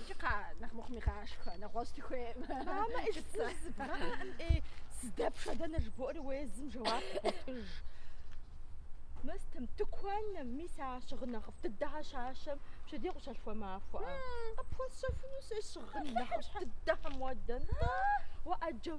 Икӏи кхъа, нэхъ мыхъуми къашхэ, нэгъуэщӏ дыхуейм. Мамэ, ӏыщ цӏыху зыбгъэӏэм ӏей, сыдэпшэ дэнэ жыбоӏэри уэ езым жэуап къыхуэтыж. Мыстым, тыкуэным, мис а щыгъын нэхъыфӏ дыдэхьэр щащэм пщэдей къыщалъхуа махуэӏэ? Къыпхуэсщэфыну сэ щыгъын нэхъыфӏ дыдэхьэм уэ дэнэ-тӏэ? Уэ ӏэджэу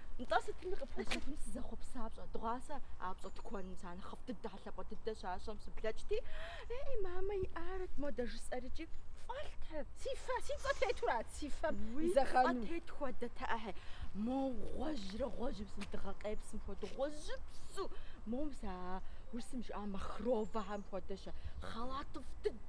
Нтӏэ, сытми къыпхуэсыфын сызэхъуэпса пщӏэ. Дыгъуасэ а пщӏэ тыкуэным сэ нэхъыфӏ дыдэхьэ, лъапӏэ дыдэ щащэм сыблэкӏти, Ей, мамэ иӏарэт модэ жысӏэри икӏи фӏэлът. Си фэ, си фэ тетурат си фэм Уи фӏэ зэхъэну. тет хуэдэт ӏэхьи. Мо гъуэжьрэ гъуэжьыпсу дыгъэ къепсым хуэдэу, гъуэжьыпсу. Моуэ мис а урысым жыӏа махровэхэм хуэдэщэ, хъэлатыфӏ дыдэ.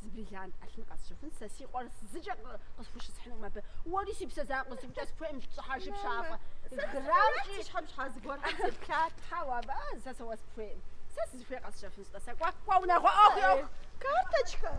Зы бриллиант ӏэлъын къэсщэфын, сэ си къуэр зыкӏэ къысхущысхьынум абы. Уэри си псэ закъуэ зыкӏэ сыпхуейм, лӏыхьэ жыпщафӏэ. Грамм и щхьэм щхьа зыгуэркъым теплъа. Тхьэуэ абы, а, сэ сэ уэ сыпхуейм. Сэ сызыхуей къэсщэфынщ-тӏэ, сэ кӏуэ, кӏуэ унагъуэ ӏуэху, ӏуэху. Карточкэр!